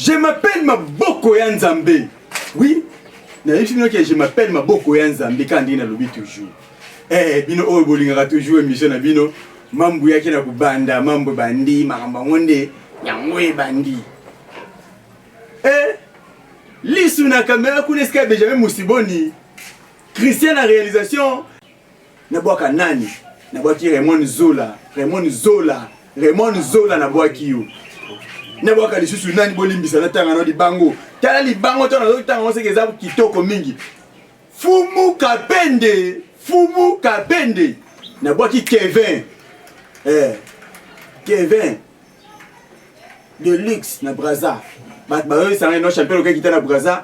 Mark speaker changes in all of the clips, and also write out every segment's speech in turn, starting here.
Speaker 1: Je m'appelle maboko ya Nzambe. Oui, nayebi bino ke je m'appelle maboko ya Nzambe kaka ndenge nalobi toujours. Eh, bino oyo bolingaka toujours émission na bino, mambu yaki na kobanda, mambu bandi, makambo yango nde yango ebandi. Eh, lisu na kamera kuna esika ya Benjamin Musiboni, Christian na réalisation, nabwaka nani nabwaki Raymond Zola Raymond Zola Raymond Zola nabwaki yo nabwaka lisusu nani bolimbisa natanga no libango tala libango to nazotanga oseke eza kitoko mingi fumu kapende fumu kapende nabwaki Kevin eh, Kevin de luxe na Brazza bato bayoyisanga ino champion okekita na Brazza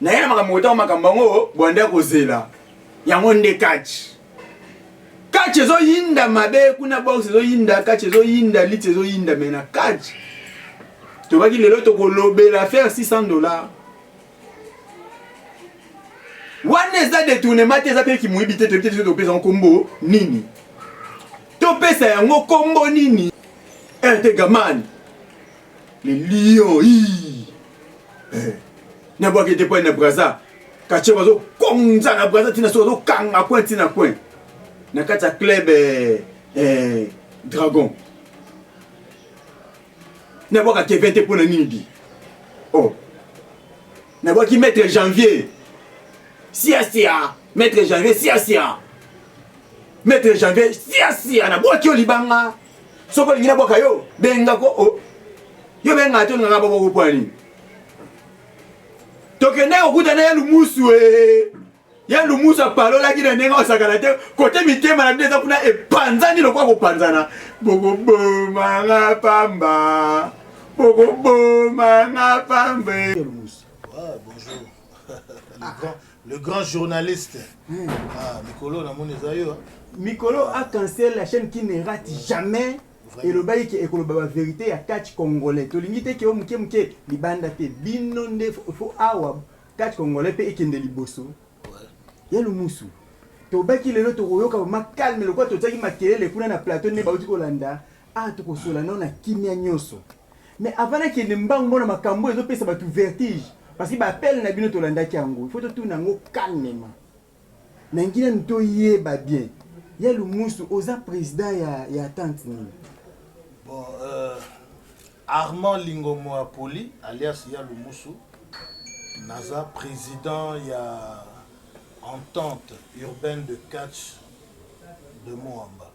Speaker 1: naye na makambo kotanga makambo yango bwande ya kozela yango nde catch catch ezoyinda mabe kuna box ezoyinda catch ezoyinda lit ezoyinda me na catch tobaki lelo tokolobela faire 600 dollars wana eza detournement te eza mpe kimoyibi te toyebi te topesa yango nkombo nini topesa yango nkombo nini ertegamani le lion ii eh. na bwaki ete epai na braza katie bazokonza na braza ntina soki azokanga coin ntina coin na kati ya club eh, eh, dragon na bwaka kevin te mpo na nini bi oh. na bwaki maître janvier siasia maître janvier siasia maître janvier siasia na bwaki yo libanga Soko lingi na bwaka yo benga ko o. Oh. Yo benga to nganga bobo ko pwani. Tokende kokuta na ya lumusu eh. Ya lumusu apalolaki na ndenge osakana te kote mitema na bino eza kuna epanzani lokola kopanzana bokoboma nga pamba bokoboma nga pamba. Ah, bonjour.
Speaker 2: Le grand journaliste. Hmm. Ah, Mikolo, na moni eza yo. Mikolo a
Speaker 1: cancel la chaîne qui ne rate jamais. elobaki ke ekoloba baverité ya catch congolais tolingi te keo moke moke libanda te bino nde fo awa catch congolais mpe ekende liboso ya lumusu tobaki lelo tokoyoka vraimen calme lokola totiaki makelele kuna na plateau nde bauti kolanda a ah, tokosola nao na kimia nyonso Mais avant na kende mbangu mona makambu ezo pesa batu vertige parce que ba appel na bino tolandaki yango il faut totuna yango calmement na ngina nanu toyeba bien ya lumusu oza president ya, ya tante nini bon,
Speaker 2: euh, armand lingomo apoli alias ya lumusu naza président ya entente urbaine de catch de moamba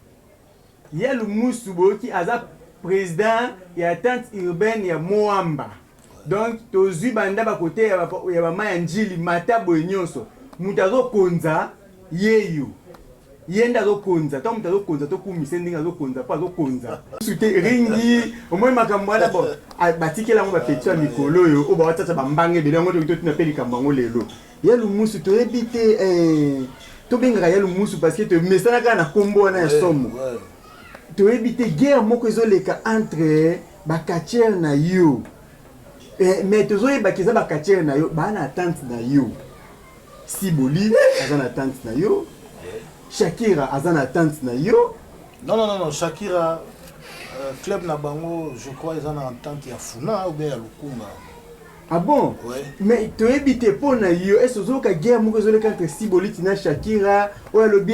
Speaker 2: Ya
Speaker 1: lumusu boyoki aza president ya tente urbaine ya moamba donc tozui banda ba kote ya ba maya ndjili mata boye nionso mutu azo konza yeyo yende azo konza tango mutu azo konza to kumisa ye ndenge azo konza po azo konza musu te ringi omoni makambo wana bon batikela yango ba petit ya mikolo oyo oyo ba wata ba mbanga ebele yango toki totuna pe likambo yango lelo ya lumusu toyebi te eh, tobengaka ya lumusu parce que tomesana kaka na kombo wana ya somo toyebi te guerre moko ezoleka entre bacatiere na yo eh, mais tozoyebaka eza bacatiere na yo baa na attente na yo siboli aza na attente na yo shakira aza na attente na yo non non non
Speaker 2: shakira euh, club na bango je crois eza na entente ya funa ou bien ya lukunga Ah bon
Speaker 1: ouais. Mais toyebi
Speaker 2: te
Speaker 1: mpo na yo ese ozoyoka guerre moko ezoleka entre siboliti na shakira oyo alobi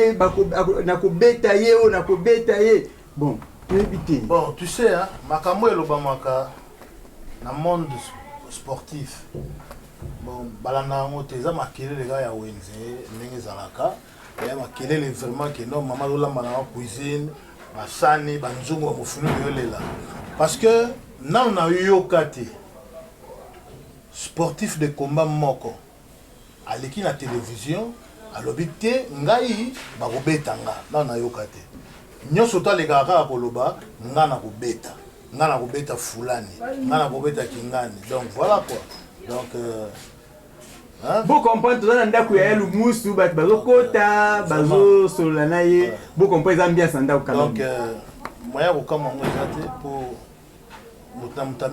Speaker 1: nakobeta ye oyo nakobeta ye bon toyebi te bon tu sais hein,
Speaker 2: makambo elobamaka na monde sportif bon balanda yango te eza makelele kaka ya wenze ndenge ezalaka ya makelele vraiment que non mama azolamba na cuisine basani banzungu ya mofulu yolela parce que nano nayoka te sportif de combat moko aleki na télévision alobi te ngai bakobeta nga nano nayoka te nyonso to alekaka kaka koloba nga nakobeta nga nakobeta fulani nga nakobeta kingani donc voilà quoi donc euh,
Speaker 1: bo comprendre toza na ndako ya yalu musu bato bazokota bazosolola na ye bo comprendre eza ambiance na ndako kama euh,
Speaker 2: moyen ya kokama yango eza te mpo moto na moto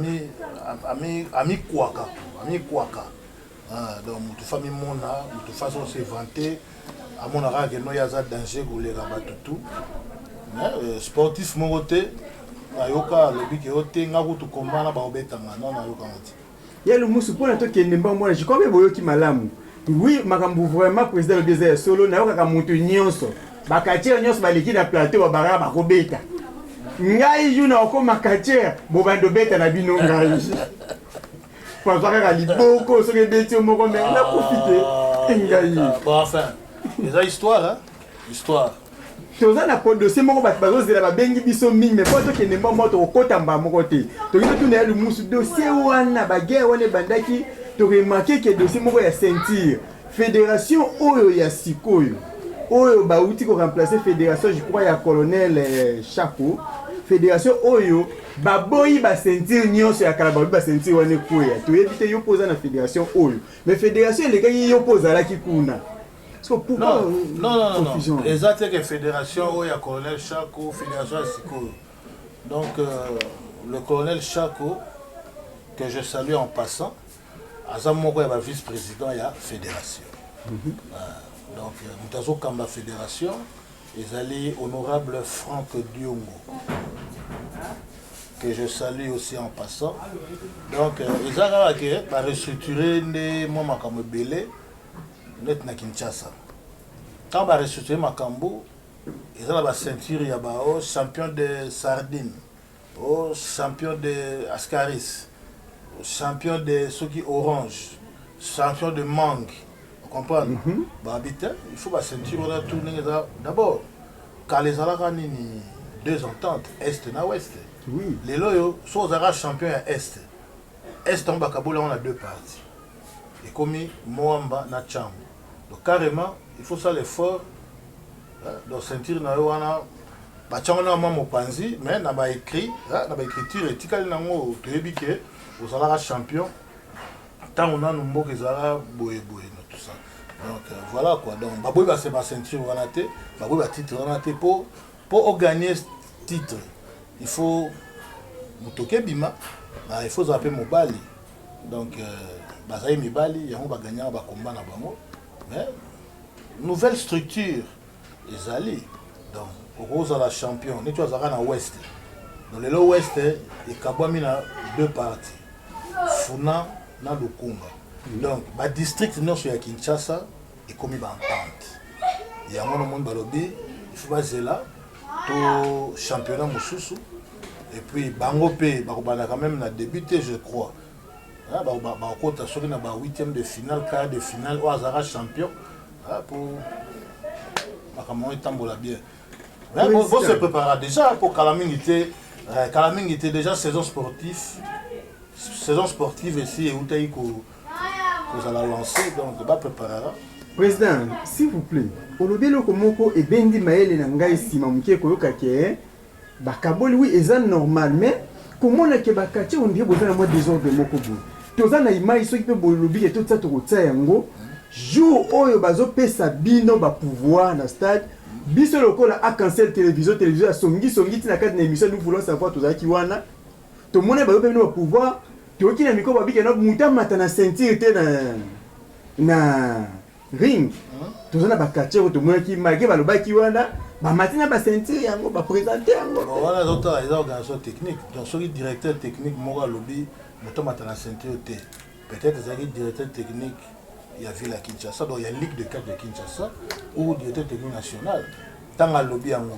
Speaker 2: amikwaka amikwaka ah, donc moto fa mimona moto fa so se vante amonaka keno ye aza danger koleka bato tout euh, sportif moko te nayoka alobi ke yo te nga kutu kombana baobetanga no nayokanga te Ya Lumusu, mpo
Speaker 1: na tokende mbangu mwana, je crois que boyoki malamu. Oui, makambo vraiment président alobi eza ya solo, nayokaka moto nyonso. Ba catcheurs nyonso baleki na plateau ba baraka bakobeta. Ngai jour na okoma catcheur, bobando beta na bino ngai. Papa kaka liboko soki ebeti yo moko mais nakufi te. Ngai. Bon, enfin,
Speaker 2: eza histoire, hein? histoire toza na
Speaker 1: dossier moko bato bazozela babengi biso mingi me mpo tokende mba moko tokokota mba moko te toki totuna ya lumusu dossier wana baguerre wana ebandaki toremake ke dossier moko ya ceinture fédération oyo ya sikoyo oyo bauti koremplace fédération je crois ya colonel eh, chaco fédération oyo baboyi baceinture nyonso ya kala baboyi baceinture wana ekweya toyebi te yo mpo oza na fédération oyo mais fédération elekaki yo mpo ozalaki kuna So pourquoi non, euh, non, non,
Speaker 2: non, confusion non. eza te ke fédération oyo ya colonel shako fédération ya sikoyo donc euh, le colonel shako que je salue en passant aza moko ya ba vice président ya fédération mm -hmm. euh, donc euh, moto azokamba fédération ezali honorable frank diongo que je salue aussi en passant donc euh, eza kaka ke barestructure nde mwa makambo ebele net na Kinshasa ntango ba restructure makambo eza na ba ceinture ya ba o oh, champion de sardine o oh, champion de ascaris champion de soki orange champion de mangue comprendre mm -hmm. bahabite il faut baceinture wana tour ndenge eza d'abord kala ezalaka nini deux ententes est na ouest oui. lelo oyo so ozalaka champion ya est est yango bakabola yango na deux parties ekomi muamba na tshangu donc carrement il faut osala effort donc ceinture na yo wana batyango na mwa mopanzi mais na ba écrit na ba écriture etikali nango toyebi ke ozalaka champion ntango nanu mboka ezalaka boye boye na tout ça donc euh, voilà quoi donc baboyi base ba ceinture wana te baboyi ba titre wana te po po ogagner titre il faut motoke ebima il faut ozala mpe mobali donc euh, bazali mibali yango baganyaka bakomba na bango mais nouvelle structure ezali donc okozala champion neti azalaka na west donc lelo west ekabwami na deux parties funa na lukunga donc badistrict nyonso ya kinshasa ekomi baentente yango na moni balobi ifu bazela to championnat mosusu et puis bango mpe bakobanda quand même na début te je crois ah, bakokota soki na ba huitième de finale quart de finale oyo azalaka champion ah, po makambo yango etambola bien bo se préparera déjà mpo kala mingi te eh, kala mingi te déjà saison sportive saison sportive esi eutaki ko kozala lancé donc ba préparera président
Speaker 1: s'il vous plaît olobi eloko moko ebendi mayele na ngai nsima moke koyoka ke eh, bakaboli wi eza normal mais komona ke bakatie ondire boza na mwa desordre moko boye toza na image soki mpe bolobi ke totisa tokotia yango jour oyo bazopesa bino bapouvoir na stade biso lokola acancel télévision télévision ya songisongi ntina kati na émission nous voulons savoir tozalaki wana To mona ba yo pe bino ba pouvoir to yoki na micro ba bika na muta mata na ceinture te na na ring to zana ba catcheur to mona ki malgré ba lobaki wana ba mati na ba ceinture yango ba présenter yango bon wana zo tala eza
Speaker 2: organisation technique donc soki directeur technique moko alobi muta mata na ceinture te peut-être ezaki directeur technique ya ville ya Kinshasa donc ya ligue de 4 de Kinshasa ou directeur technique national tanga lobi yango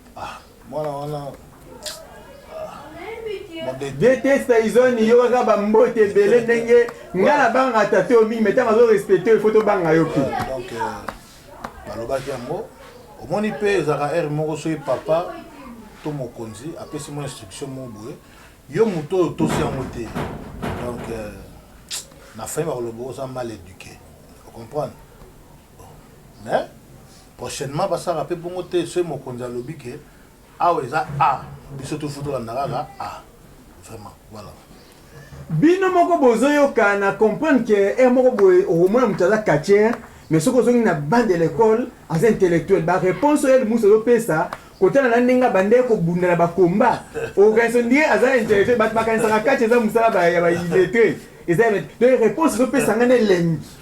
Speaker 2: Ah, mwana wana
Speaker 1: detesta izoni yo kaka bambote ebele ndenge nga na banga tate oyo mingi metanga azo respecte oyo fo tobanga yo mpe
Speaker 2: balobaki euh, yango omoni mpe ezalaka heure moko soki papa to mokonzi apesi mo instruction mo boye yo moto oyo otosi yango te donc euh, na fin bakoloba oza mal éduqué ocomprendre Bon mais prochainement ba sala pe bongo te soki mokonzi alobi que awa eza A biso tout faut to landa kaka A vraiment voilà. Bino
Speaker 1: moko bozo yoka na comprendre que heure moko boye okomona mutu aza catcheur mais soki ozongi na banc de l'ecole aza intellectuel ba reponse oyo Elmusa azo pesa kotala na ndenge abandaki kobunda na ba combat okokanisa on dirait aza intellectuel batu bakanisaka catch eza musala ya ba illettre eza donc reponse ezo pesa nga na elengi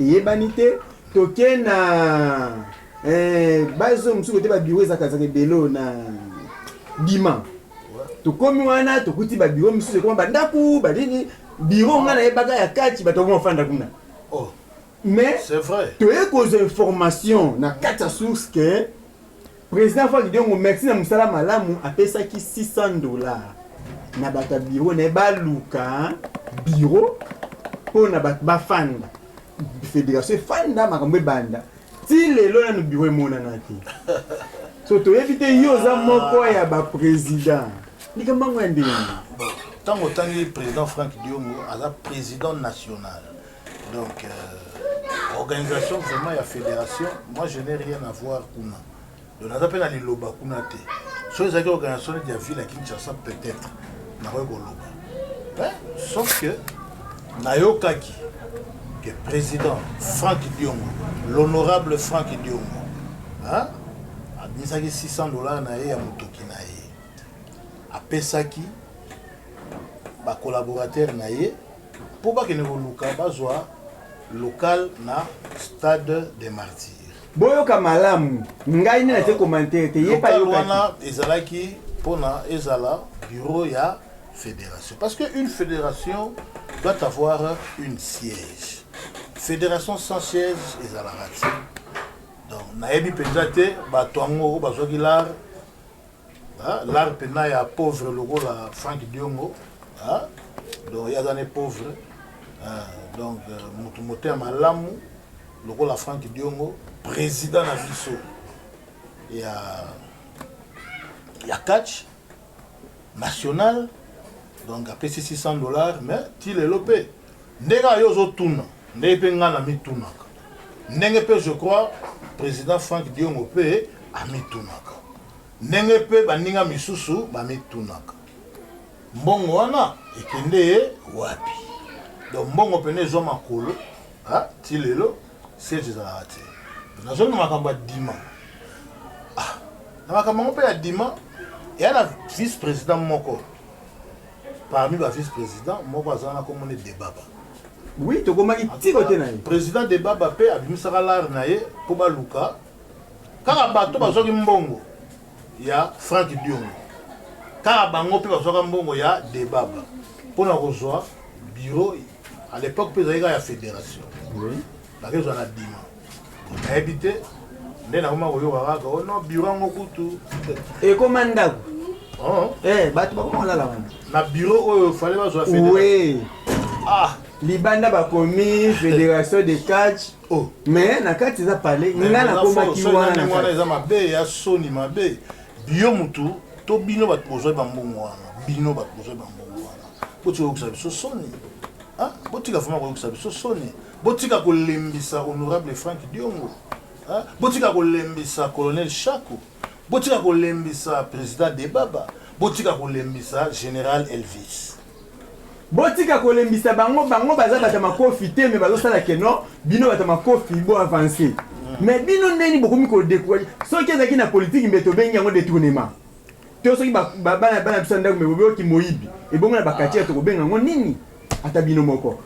Speaker 1: Eyebani te toke na eh, bazo mosusu kote ba bureau ezaka ezaka ebele oyo na bima tokomi wana tokuti ba bureau mosusu ekoma bandako banini bureau nga nayebaka ya kati bato yango bafanda kuna oh.
Speaker 2: mais
Speaker 1: toye
Speaker 2: kozwa
Speaker 1: information na kati ya source ke President Franck Diongo merci na musala malamu apesaki 600 dollars na bato ya bureau na ye baluka bureau mpo na bato bafanda fédération efanda makambo ebanda ti lelo nanu bureau emonana te so toyebi te yo oza moko ya baprésident likambo yango ya ndenge ntango
Speaker 2: otangi président frank diongo aza président national Donc, euh, organisation vraiment ya fédération, moi je n'ai rien à voir kuna. Donc naza pe na liloba kuna te. So ezalaki organisation de la ville à Kinshasa peut-être. Nakoki koloba. Hein? Sauf que nayokaki que président Franck Diongo, l'honorable Franck Diongo, hein? abimisaki 600 dollars na ye ya motoki na ye apesaki bacolaborateur na ye Mpo bakende koluka bazwa local na stade de martyr boyoka malamu
Speaker 1: ngai nde natie commentaire te ye local wana ezalaki
Speaker 2: mpona ezala bureau ya fédération parce que une fédération doit avoir une siège fédération sans siège ezalaka te donc nayebi mpenza te bato yango bazwaki lare Ah, l'art pena ya pauvre lokola Frank Diongo. Ah, donc yaza ne pauvre. Ah, donc euh, mutu mote ya malamu lokola Frank Diongo, président na biso ya ya catch national donc apesi 600 dollars mais ti lelo mpe Ndenge kaka yo ozo tuna ndenge pe nga na mi tunaka ndenge pe je crois president Franck Diongo pe a mi tunaka ndenge pe baninga misusu ba mi tunaka mbongo wana ekende wapi? Donc mbongo pene ezua makolo ha ti lelo siege ezalaka te na zongi makambo ya dima ah na makambo yango pe ya dima eya na vice president moko Parmi ba vice president moko aza wana kombo ne debaba. Oui
Speaker 1: tokomaki ti kote na ye. President debaba pe
Speaker 2: abimisaka lar na ye po baluka kaka bato bazwaki mbongo ya Franck Diongo kaka bango pe bazwaka mbongo ya debaba pona kozwa bureau à l'epoque pe ezalaki kaka ya federation. Oui. Nakezwa na dima. Nayebi te nde nakoma koyoka kaka o oh no biro yango kutu ekoma
Speaker 1: ndako oh. eh, bato bakoma kolala wana na biro oyo
Speaker 2: fale bazwa fede
Speaker 1: ah libanda bakomi fédération de catch oh. mais na kati eza pale ngai nakomaki wana eza mabe ya
Speaker 2: soni mabe biyo motu to bino bato bozwai bambongo wana bino bato bozwai bambongo wana botika koyokisa biso soni ah, botika vraimen koyokisa biso soni Botika kolembisa honorable Franck Diongo. Hein? Botika kolembisa colonel Shako. Botika kolembisa president Debaba. Botika kolembisa general Elvis. botika
Speaker 1: kolembisa bango bango baza bato ya makofi te me bazosala keno bino bato ya makofi bo avance me bino ndeni bokomi kodekuraje soki ezalaki na politiki mbe tobengi yango detournement To soki ba bana bana biso ndako mebo bioki moyibi ebongo na bakati to kobenga ngo nini ata bino moko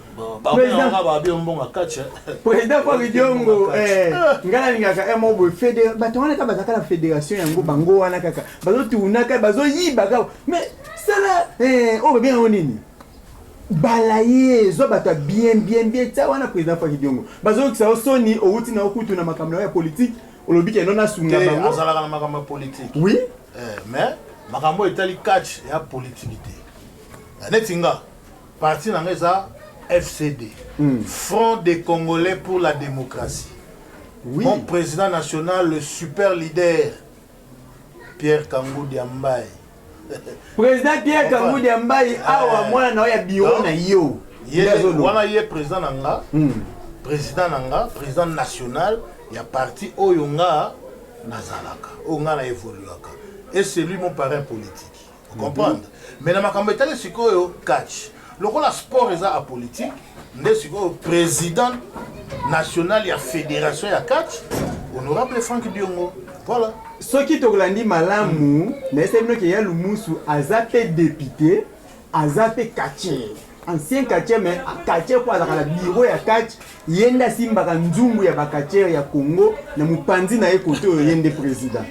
Speaker 1: President Fabio Diongo, eh, ngai nalingaka eh, moko boye fede bato wana kaka bazalaka na federation yango bango wana kaka bazotunaka bazoyiba kaka mais sala eh, oyo babenga yango nini bala ye zwa bato ya bien bien bien tia wana président Fabio Diongo bazoyokisa yo soni owuti na yo kutu na makambo na yo ya politike olobi keno nasunga bango azalaka na makambo ya
Speaker 2: politike oui eh,
Speaker 1: mais
Speaker 2: makambo oyo etali catch ya politike te eh, neti nga parti na nga eza fcd mm. front des congolais pour la démocratie oui. mon président national le super leader pierre kangu diambaye
Speaker 1: President Pierre Kangudi ya mbayi eh. awa mwana na yo ya biro na yo. Wana ye
Speaker 2: president na nga. Hmm. President na nga, president national ya parti oyo nga nazalaka, oyo nga na evoluaka. Et c'est lui mon parrain politique. Vous comprenez? Mm -hmm. Mais na makambo etali sikoyo catch. lokola sport eza apolitique nde sikoyo président national ya fédération ya catch honorable frank diongo voilà soki tokolandi
Speaker 1: malamu nayesa bino ke ya lumusu aza mpe depute aza mpe catcher ancien catcher mais catcher mpo azalaka na bureau ya catch Ye nde asimbaka nzungu ya ba catcheurs ya Congo na mopanzi na ye kote oyo ye nde president.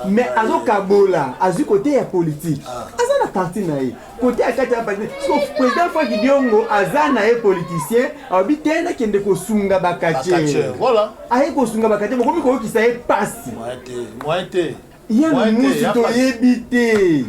Speaker 1: Mais azokabola, azwi kote ya politique. Aza na parti na ye. Kote ya kati ya parti. So president Franck Diongo aza na ye politicien, alobi te nakende kosunga ba catcheurs. Voilà. Aye
Speaker 2: kosunga ba catcheurs,
Speaker 1: bokomi koyokisa ye pasi. Moyen te.
Speaker 2: Moyen te. Ye
Speaker 1: musi toyebi te.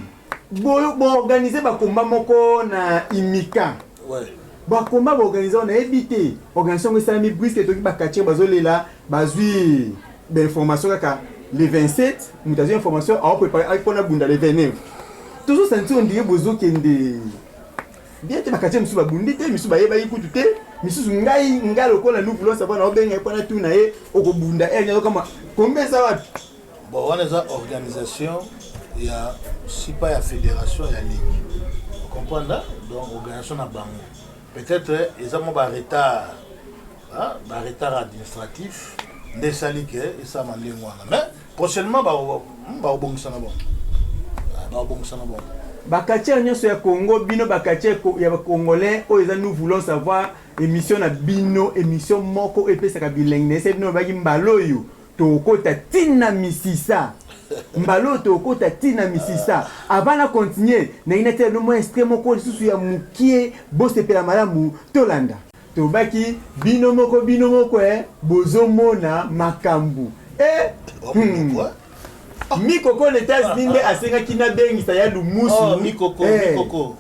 Speaker 1: Bo, bo organiser ba combat moko na Imika. Ouais. Ba
Speaker 2: combat ba
Speaker 1: organiser on a évité. Organisation ça mi brisque to ki ba catcher bazo lela bazui ba information kaka le 27 mutazo information a préparer a pona bunda le 29. Toujours sentir on dirait bozo kende. Bien te ba catcher misu ba bundi te misu ba yeba ikutu te misusu ngai ngai lokola nous voulons savoir na obenga epana tu na ye okobunda eh nyoka kama kombe ça wapi Bon, wana eza
Speaker 2: organisation ya sipa ya federation ya ligue comprendre donc organisation na bango peut-être eza mwa baretard baretard administratif nde esali ke esalama ndenge wana mais prochainement bakobongisa na bango bakobongisa na bango
Speaker 1: bakatiere nyonso ya congo bino bakatiere ya bacongolais oyo eza nous voulons savoir émission na bino émission moko oyo epesaka bilengi na ese bino babaki mbala oyo Tokokota ti na misisa. Mbala oyo tokokota ti na misisa. Avant na continuer, nalingi natiela bino mwa extrait moko lisusu ya mukie, bosepela malamu, tolanda. Tolobaki bino moko bino moko eh, bozomona makambu eh humm. Mikoko na Etats-Unis nde asengaki nabengisa ya Lumusu eh.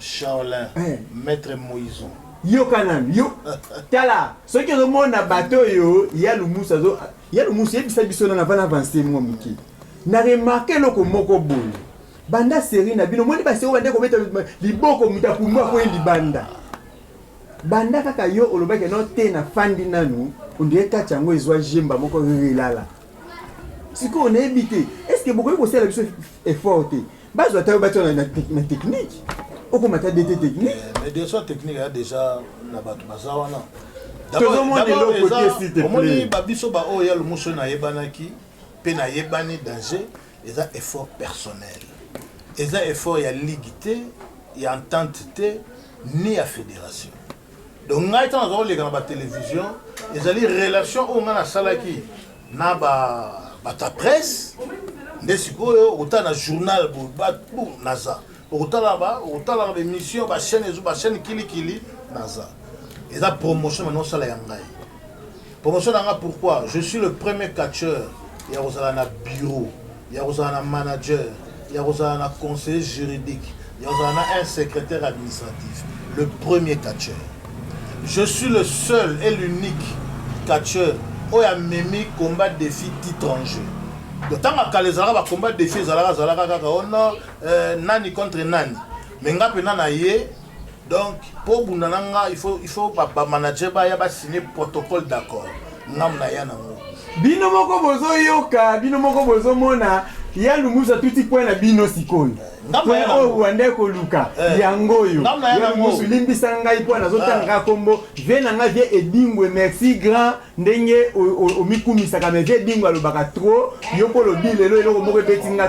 Speaker 2: Shaolin, eh. maître Moïson. yoka nanu
Speaker 1: yo tala soki ozomona bato oyo ya lumusu azo ya lumusu yebisa biso nana vana avance mwa moke na remarke eloko moko boye banda seri na bino omoni baseri bande kobeta liboko moto akumbu akwei libanda banda kaka yo olobaki no te na fandi nanu ondire kati yango ezwa jemba moko relala sikoyo nayebi te estce bokoki kosala biso effort te Bazo ata bato na na technique. Okoma ta DT technique. Eh, mais des fois technique
Speaker 2: ya déjà na bato baza wana. Tozomona
Speaker 1: eloko te s'il te plaît. Omoni ba biso ba oyo
Speaker 2: ya lumuso na yebanaki pe na yebani danger eza effort personnel. Eza effort ya ligue te, ya entente te, ni ya fédération. donc ngai ntango naza koleka na batelevision ezali relation oyo ngai nasalaki na bata presse nde sikoyo okotala na journal batu naza okotala okotalaka baémission bachaîne ezo bachaîne kilikili naza eza promotion mani osala ya ngai promotion na ngai pourquoi je suis le premier catcheur ya kozala na bureau ya kozala na manager, ya kozala na conseiller juridique, ya kozala na un secretaire administratif, le premier catcheur. Je suis le seul et l'unique catcheur oyo amemi combat défi titre en jeu. Ntango ya kala ezalaka ba combat défi ezalaka azalaka kaka ono euh, nani contre nani, mais nga mpenza na ye Donc po obunda na nga il faut il faut ba ba manager ba ya ba signer protocole d'accord nga mna ya na ngo.
Speaker 1: Bino moko bozo yoka bino moko bozo mona ya lumusa tuti point na bino sikoyo oyo wanda ekoluka yango oyo yamusu limbisa ngai mpo nazotangaka ah. kombo vie na ngai vie edingwe merci grand ndenge omikumisaka mais vie edingwe alobaka trop yo mpo olobi lelo eloko moko ebeti nga